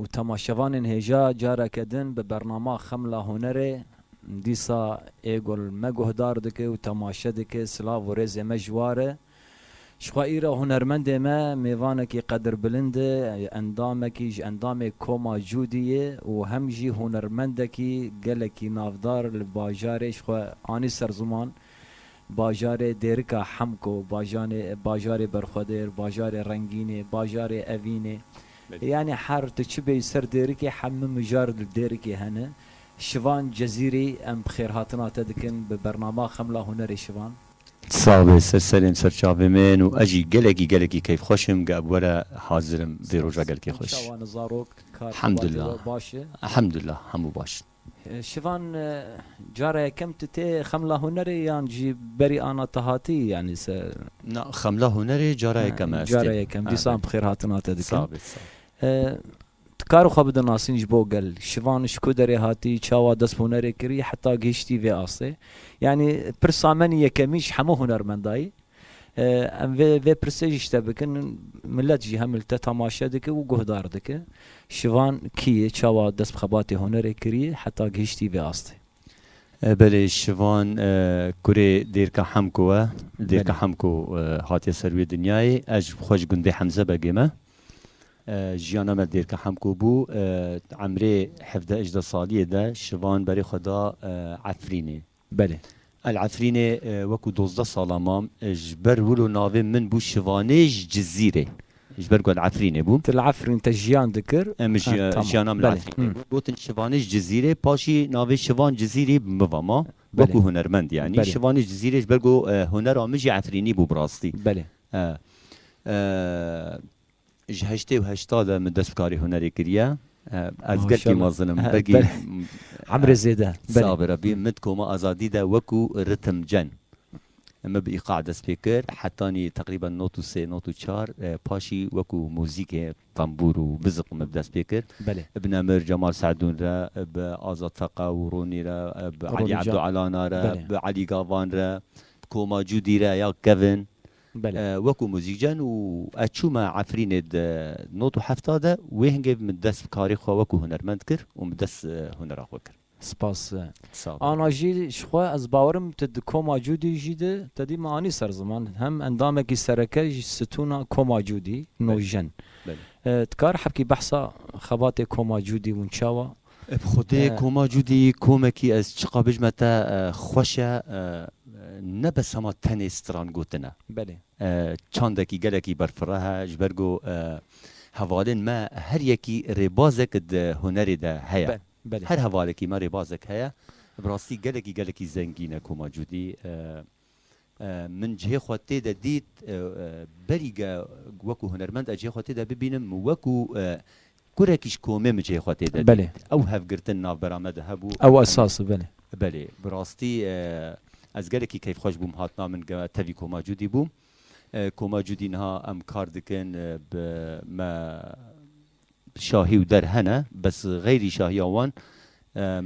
Û temaşevanên hêja careke din bi bernama Xemla Hunerê dîsa ê gul me guhdar dike û temaşe dike, silav û rêzê me ji war e. Ji xwe îra hunermendê me mêvanekî qedirbilind e, endamekî ji endamê Koma Cûdî ye û hem jî hunermendekî gelekî navdar li bajarê ji xwe anî ser ziman. Bajarê Dêrika Hemko, bajanê Bajarê Berxwedêr, Bajarê Rengînê, Bajarê Evînê yanî her tu çi bêyî ser Dêrikê hemû mijar li Dêrikê hene. Şivan Cezîrî em bi xêrhatina te dikin bi bernama Xemla Hunerê Şivan. Sax be ser serên ser çavê min û ez jî gelekî gelekî keyfxweş im ge bi we re hazir im vê roja gelekî xweş. Hemdullah Hemdullah hemû baş in. Şivan cara yekem tu tê Xemla Hunerê yan jî berî ana te hatî yanî se? Na, Xemla Hunerê cara yekem e ez tê. Cara yekem, dîsan bi xêr hatina te dikim. Sağ bî, sağ. Tu karê xwe bidinasîn ji bo gel. Şivan ji ku derê hatî, çawa dest bi hunerê kirî heta gihiştî vê astê. Yanî pirsa me nî yekemî ji hemû hunermendayî. Em vê vê pirsê jî şte bikin, milet jî hemil te temaşe dike û guhdar dike. Şivan kî ye, çawa dest bi xebatê hunerê kiriye heta gihiştî vê astê? Belê Şivan kurê Dêrka Hemko ye. Dêrka Hemko hatiye ser wê dinyayê. Ez ji xwe ji gundê Hemze Begê me. Jiyana me Dêrka Hemko bû. Di emrê hevdeh-ejdeh saliyê de Şivan berê xwe da Efrînê. Belê. El Efrînê wekû dozdeh salan mam. Ji ber wilo navê min bû Şivanêj Cizîrê. Ji ber ku El Efrînê bûm. Tu li Efrîn te jiyan dikir? Em jiyana min li Efrînê bû. Gotin Şivanêj Cizîrê. Paşî navê Şivan Cizîrî bi min ve ma. Wekû hunermend yanî. Şivanêj Cizîrê ji ber ku hunera min jî Efrînî bû bi rastî. Belê. Ji heştê û heşta de min dest bi karê hunerê kiriye. Ez gelkî mezin im. Belkî emrê zêde. Sağ bi Rebî. Min di koma azadî de wekû ritimcen min bi îqac dest pê kir. Hetanî teqrîben not û sê, not û çar. Paşî wekû muzîkê tembûr û biziq min bi dest pê kir. Bi Nemir Cemal Se'dûn re, bi Azad Feqa û Ronî re, bi Elî Ebdû Elana re, bi Elî Gavan re, bi Koma Cûdî re ya kevin. Wekû muzîkcen û ez çûme Efrînê di not û hefta de wê hingê min dest bi karê xwe wekû hunermend kir û min dest hunera xwe kir. Spas. Ana jî ji xwe ez bawer im tu di koma Cûdî jî de tedî min anî ser ziman hem endamekî sereke ji stûna koma Cûdî Nojjen. Dikar hebkî behsa xebatê koma Cûdî winçawa Bi xwedê koma Cûdî komekî ez çiqa bijime te xweş e ne bes hema tenê stran gotin e. Belê. Çandekî gelekî berfireh e ji ber ku hevalên me her yekî rêbazek di hunerê de heye. Her hevalekî me rêbazek heye. Bi rastî gelekî gelekî zengîn e koma Cûdî. Min cihê xwe tê de dît, berî ge wekû hunermend ez cihê xwe tê de bibînim, min wekû kurekî ji komê min cihê xwe tê de dît. Ew hevgirtin navbera me de hebû. Ew esas e, belê. Belê, bi rastî ez gelekî keyfxweş bûm hatina min ge tevî koma Cudî bûm. Koma Cudî niha em kar dikin, bi me Şahî û der hene bes xeyrî şahiya wan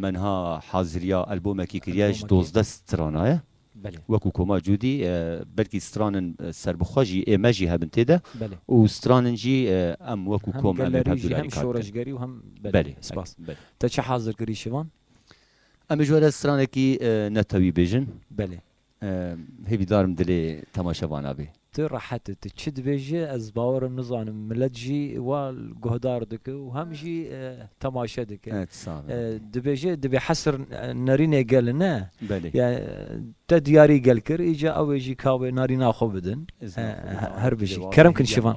me niha haziriya elbomekî kiriye ji dozdeh strana ye wekû Koma Cûdî belkî stran in serbixwe jî ê me jî hebin tê de û stran in jî em wekû kom em ê bi hev dudarî kar bikin. Belê spas. Te çi hazir kirî şivan? Em ê ji we re stranekî netewî bêjin. Belê. Hêvî darim dilê temaşevana bê. Tu rehet e, tu çi dibêjî ez bawer im nizanim milet jî wa guhdar dike û hem jî temaşe dike. Dibêje dibê hesir nerînê gel ne. Belê. Ya te diyarî gel kir îca ewê jî kawê narîna xwe bidin. Her bijî. Kerim kin şivan.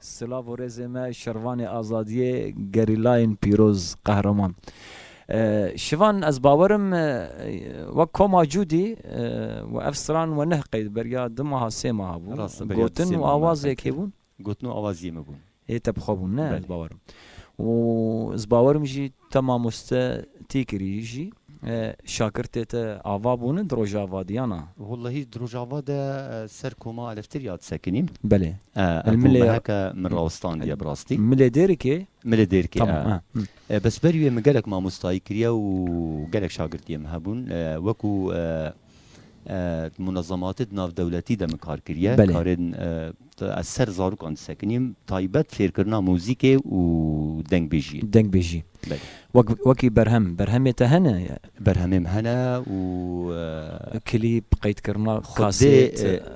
Silav û rêzê me şervanê azadiyê gerîlayên pîroz qehreman. Şivan ez bawer im wek koma Cûdî we ev stran we nehqey di beriya du maha sê maha bû. Gotin û awazê kê bûn? Gotin û awaziyê me bûn. Ê te bi xwe bûn ne ez bawer im. Û ez bawer im jî Te mamoste tê kirî jî şakirtê te ava bûne di Rojava de yan a? Wellehî di Rojava de ser koma aleftir ya disekinî. Belê. Ev ku meheke min rawistandiye bi rastî. Milê Dêrikê? Milê Dêrikê e. Bes berî wê min gelek mamostayî kiriye û gelek şakirtiyê min hebûn. Wekû di munezematê di navdewletî de min kar kiriye. Belê. Karên ez ser zarokan disekinîm taybet fêrkirina muzîkê û dengbêjiyê. Dengbêjî. Belê. Wek wekî berhem, berhemê te hene? Berhemêm hene û. Klîp, qeydkirina kasêt.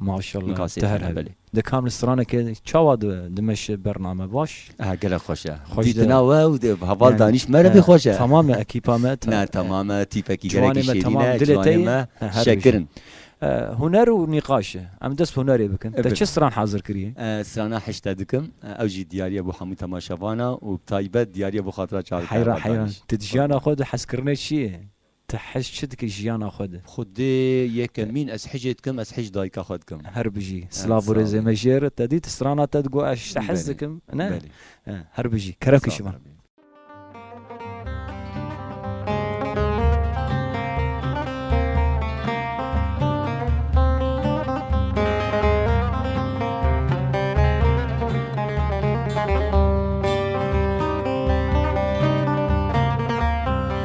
Maşallah Nika sê tune belê. Di kam li stranekê çawa dimeşe bername baş? Ehe gelek xweş e. Xweş de. Dîtina we û di heval danîş me re vê xweş e. Tamam e ekîpa me. Ne tamam e tîpekî gelekî şêrîn e ciwanê me şekir in. Huner û nîqaş e. Em dest bi hunerê bikin. Te çi stran hezir kiriye? Ez strana hişte dikim. Ew jî diyariye bo hemû temaşevan e û bi taybet diyariye bo xatira çavkar. Heyran heyran. Ti di jiyana xwe de hezkirinê çi ye? Te hej çi dikir jiyana xwe de? Xwedê yekemîn ez hicê dikim ez hicî dayika xwe dikim. Her bijî. Silav û rêzê me jê re te dî tu strana te digot ez ji te hez dikim ne? Her bijî. Kerem Kişivan.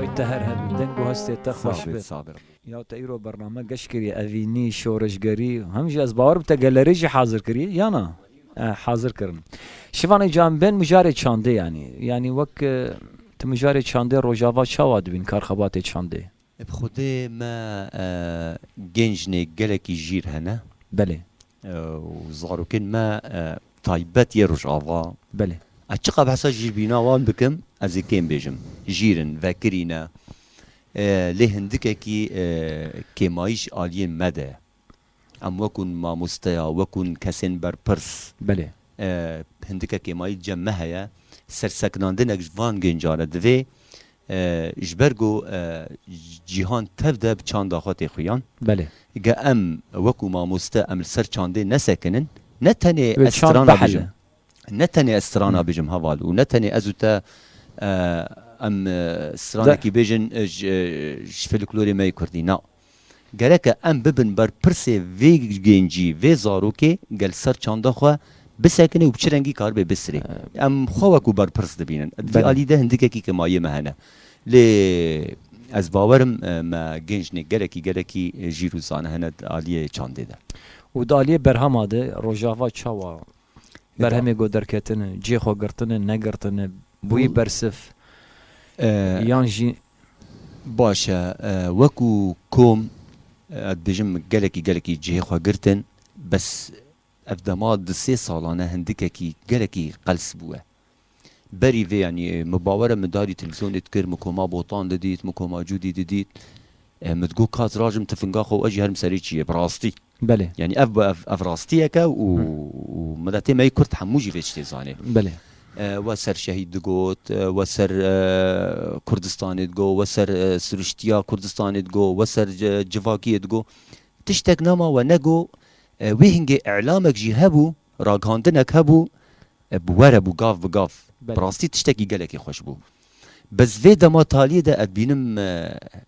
Wê te her hebe. Deng û hestê te xweş be. Sağ be. Ya te îro bername geş kiriye, evînî, şoreşgerî, hem jî ez bawer bi te gelerî jî hazir kirî ya na? Eh hazir kirin. Şivanê can bên mijarê çandê yanî. Yanî wek ti mijarê çandê Rojava çawa dibîn kar xebatê çandê? E bi xwedê me gêncnê gelekî jîr hene. Belê. Û zarokên me taybet yê Rojava. Belê. Ez çiqas bi hesa jîrbîna wan bikim, ez ê kêm bêjim. Jîr in, vekirî ne. Lê hindikekî kêmayîş aliyên me de ye. Em wekû mamosteya, wekû kesên berpirs. Belê. Hindike kêmayî cem me heye. Sersekinandinek ji van gêncan e divê ji ber ku cîhan tev de bi çanda xwe tê xuyan. Belê. Ge em wekû mamoste em li ser çandê nesekinin, ne tenê ez strana bijim, ne tenê ez strana bijim heval û ne tenê ez û te em stranekî bêjin ji filiklorê me yê kurdî. Na. Gereke em bibin berpirsê vê gencî, vê zarokê gel ser çanda xwe bisekine û bi çi rengî karibe bistirê. Em xwe wekû berpirs dibînin. Di vî alî de hindikekî ke ma yê me hene. Lê ez bawer im me gencnê gelekî gelekî jîr û zana hene di aliyê çandê de. Û di aliyê berhema de rojava çawa berhemê ku derketine, cihê xwe girtine, negirtine, bûyî bersif yan jî. Baş e, wekû kom ez dibêjim gelekî gelekî cihê xwe girtin, bes ev dema du sê salan e hindikekî gelekî qels bûye. Berî vê yanî min bawer e min darî televîzyonê dikir, min koma Botan didît, min koma Cûdî didît, min digot ka ez rajim tifinga xwe û ez jî herim serê çiyê, bi rastî. Belê. Yanî ev bi ev ev rastiyek e û û miletê me yê Kurd hemû jî vê tiştê zanê. Belê. We ser şehîd digot, we ser Kurdistanê digot, we ser siriştiya Kurdistanê digot, we ser civakiyê digot. Tiştek nema we negot. Wê hingê îlamek jî hebû, ragihandinek hebû, bi we re bû gav bi gav. Bi rastî tiştekî gelekî xweş bû. Bez vê dema taliyê de ev bînim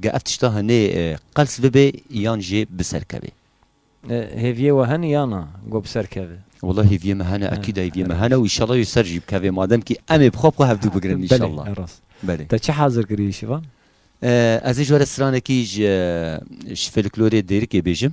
Ge ev tişta hinê qels bibe yan jî bi ser keve. Hêviyê we hene ya na ku bi ser keve? Wela hêviyê me hene ekîd e hêviyê me hene û inşallah jî ser jî bikeve madem kî em ê bi xwe bi xwe hevdu bigirin inşallah. Belê rast. Belê. Te çi hazir kiriye şivan? Ez ê ji we re stranekî ji folklorê Dêrikê bêjim.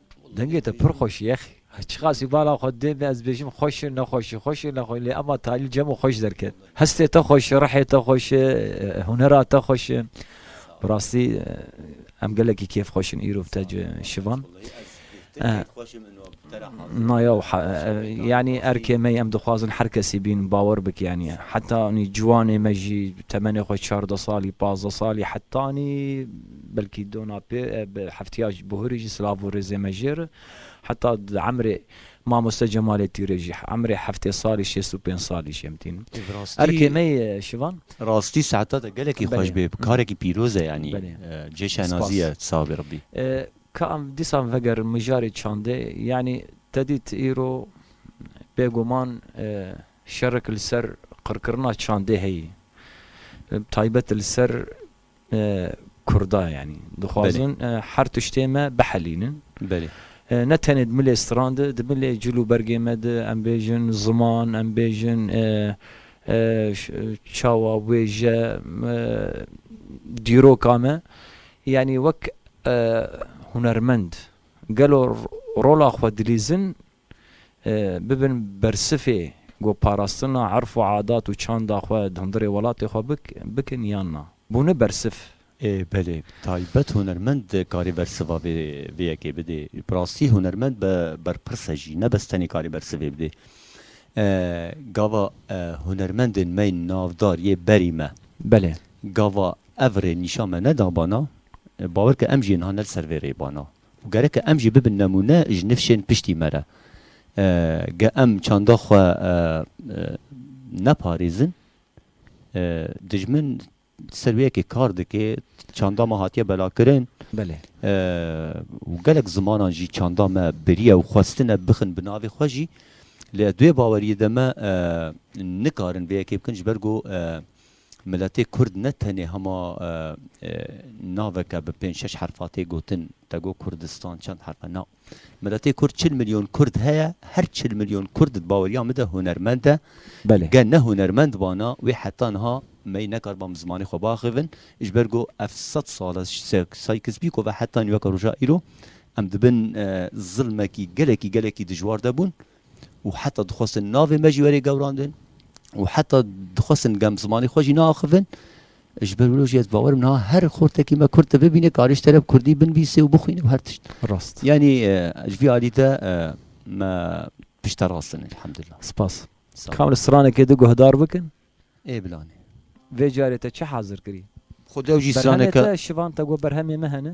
Dengê te pir xweş ye. Çiqasî bala xwe dê me ez bêjim xweş e nexweş e, xweş e nexweş e lê ema talîl cem û xweş derket. Hestê te xweş e, rihê te xweş e, hunera te xweş e. Bi rastî em gelekî kêf xweş in îro bi te ci şivan. Na yaw yanî erkê me ye em dixwazin her kesî bîn bawer bike yanî heta anî ciwanê me jî temenê xwe çardeh salî, pazdeh salî heta anî Belkî dona pê bi hefteya buhurî jî silav û rêzê me jê re. Heta di emrê Mamoste Cemalê Tîrê jî emrê heftê salî şêst û pênc salî jê em tînin. Ev rastî. Erkê me yê Şivan. Rastî saeta te gelekî xweş bê. Karekî pîroz e yanî. Belê. Cihê şenazî ye. Spas. Sawê Rebbî. Ka em dîsan vegerin mijarê çandê yanî te dît îro bêguman şerek li ser qirkirina çandê heye. Bi taybet li ser Kurda yanî dixwazin her tiştê me bihelînin. Ne tenê di milê stran de, di milê cil û bergê me de em bêjin ziman, em bêjin çawa, wêje, dîroka me yanî wek hunermend gelo rola xwe dilîzin bibin bersifê ku parastina erf û adat û çanda xwe di hundirê welatê xwe bikin yan na. Bûne bersif. Ê belê. Taybet hunermend dikarê bersiva vê vê yekê bidê. Bi rastî hunermend be berpirs e jî. Nebes tenê karê bersivê bidê. Gava hunermendên me yên navdar yê berî me. Belê. Gava ev rê nîşan me neda bana. Bawer ke em jî niha ne li ser vê rê bana. Û gereke em jî bibin nemûne ji nifşên piştî me re. Ge em çanda xwe neparêzin, dijmin di ser wê yekê kar dike, çanda me hatiye belakirin û gelek zimanan jî çanda me biriye û xwestine bixin bi navê xwe jî. Lê ez di wê baweriyê de me nikarin vê yekê bikin ji ber ku Miletê Kurd ne tenê hema naveke bi pênc şeş herfa tê gotin, te got Kurdistan çend herf e? Na. Miletê Kurd çil milyon Kurd heye, her çil milyon Kurd di baweriya min de hunermend e. Ge ne hunermend bana wê heta niha mey nekariba min zimanê xwe biaxivin. Ji ber ku ev sed sal e Sykes-Picot ve heta nîveka roja îro em di bin zilmekî gelekî gelekî dijwar de bûn. û heta dixwestin navê me jî werê gewrandin û heta dixwestin gem zimanê xwe jî neaxivin ji ber wilo jî ez bawerim niha her xortekî me kurd te bibîne karê ji teref kurdî binvîsê û bixwîne û her tişt rast yanî ji vî alî de me pişta rastin elhamdullah spas kamre stranekê di guhdar bikin ê bilanê vê carê te çi hazir kirî xwe dew jî straneke şivan te got berhemê me hene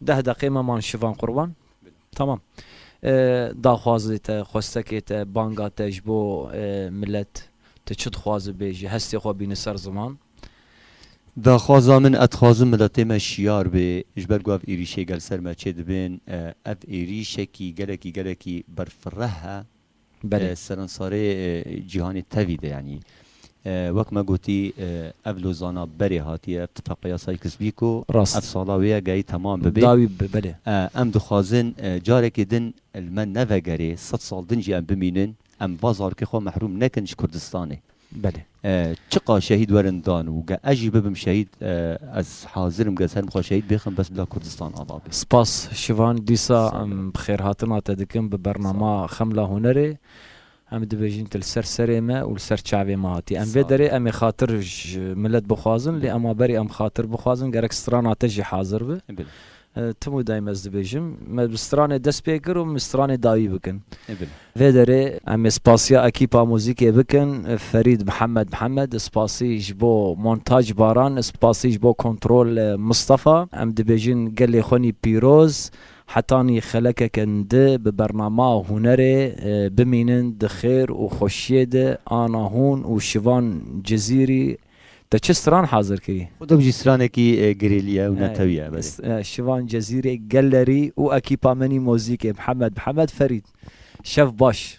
Deh deqê me man şivan qurban. Tamam. Daxwazê te, xwestekê te, banga te ji bo milet, tu çi dixwazi bêje, hestê xwe bîni ser ziman. Daxwaza min e dixwazim miletê me şiyar bê ji ber ku ev êrîşê gel ser me çêdibên ev êrîşekî gelekî gelekî berfireh e Seransarê cîhanê tevî de yanî wek me gotî ev lozana berê hatî ev tifaqeya Sykes-Pîko ev sala wê ye gehî temam bibê. Em dixwazin carekê din li me nevegerê sed sal din jî em bimînin em va zarokê xwe mehrûm nekin ji Kurdistanê. Belê. Çiqa şehîd werin dan û ge ez jî bibim şehîd ez hazir im ge ser min xwe şehîd bixim bes bila Kurdistan ava be. Spas Şivan dîsa em bi xêrhatina te dikim bi bernama Xemla Hunerê. Em dibêjin tu li ser serê me û li ser çavê me hatî. Em vê derê em ê xatir ji milet bixwazin lê em a berî em xatir bixwazin gerek strana te jî hazir be. Tim û dayim ez dibêjim me bi stranê dest pê kir û min stranê dawî bikin. Vê derê em ê spasiya ekîpa muzîkê bikin, Ferîd Mihemed Mihemed, spasî ji bo montaj Baran, spasî ji bo kontrol Mistefa. Em dibêjin gelê xwenî pîroz, hetanî xelekeke ndi bi bernama hunerê bimînin di xêr û xweşiyê de ana hûn û şivan Cizîrî Te çi stran hazir kirî? Xwe dibijî stranekî girêlî ye û netewî ye belê. Şivan Cezîrê, Gellerî û ekîpa menî mozîkê, Mihemed Mihemed Ferîd. Şev baş.